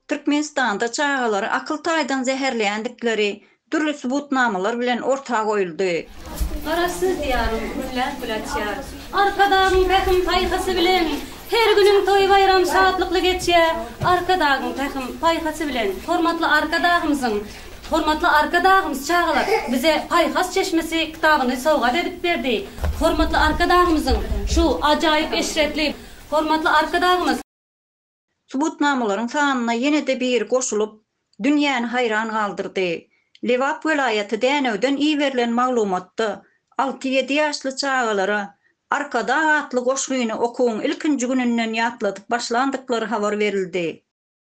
Türkmenistanda çagalary akyl taýdan zäherleýändikleri dürli subutnamalar bilen orta goýuldy. Garaşsyz Diýarym günläp-gün açýar. Arkadagyň pähim-paýhasy bilen Her günüň toý-baýram şatlykly geçýär. Arkadagyň pähim-paýhasy bilen. Hormatly Arkadagymyzyň Hormatly Arkadagymyz çagalar bize Paýhas çeşmesi kitabyny sowgat edip berdi. Hormatly Arkadagymyzyň şu ajaýyp eşretli Hormatly Arkadagymyz. Subutnamalaryň sanyna ýene-de biri goşulyp, dünýäni haýran galdyrdy. Lebap welaýaty Dänewden iberilen maglumatda alty-ýedi ýaşly çagalara Arkadag atly goşgyny okuwyň ilkinji gününden ýatladyp başlandyklary habar berildi.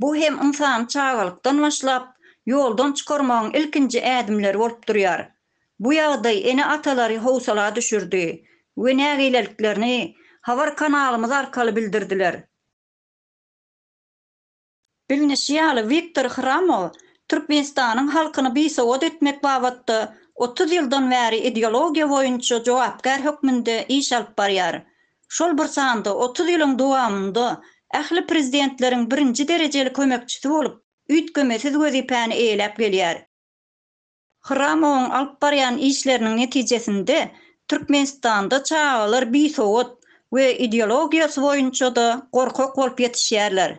Bu hem ynsany çagalykdan başlap, ýoldan çykarmagyň ilkinji ädimleri bolup durýar. Bu ýagdaý ene-atalary howsala düşürdi we nägileliklerini habar kanalymyz arkaly bildirdiler. Bilnişi ýaly, Wiktor Hramow Türkmenistanyň halkyny bisowat etmek babatda otuz ýyldan bäri ideologiýa boýunça jogapkär hökmünde iş alyp barýar. şol bir sanda otuz ýylyň dowamynda ähli prezidentleriň birinji derejeli kömekçisi bolup, üýtgemesiz wezipäni eýeläp gelýär. Hramowyň alyp barýan işleriniň netijesinde Türkmenistanda çagalar bisowat we ideologiýasy boýunça-da gorkak bolup ýetişýärler.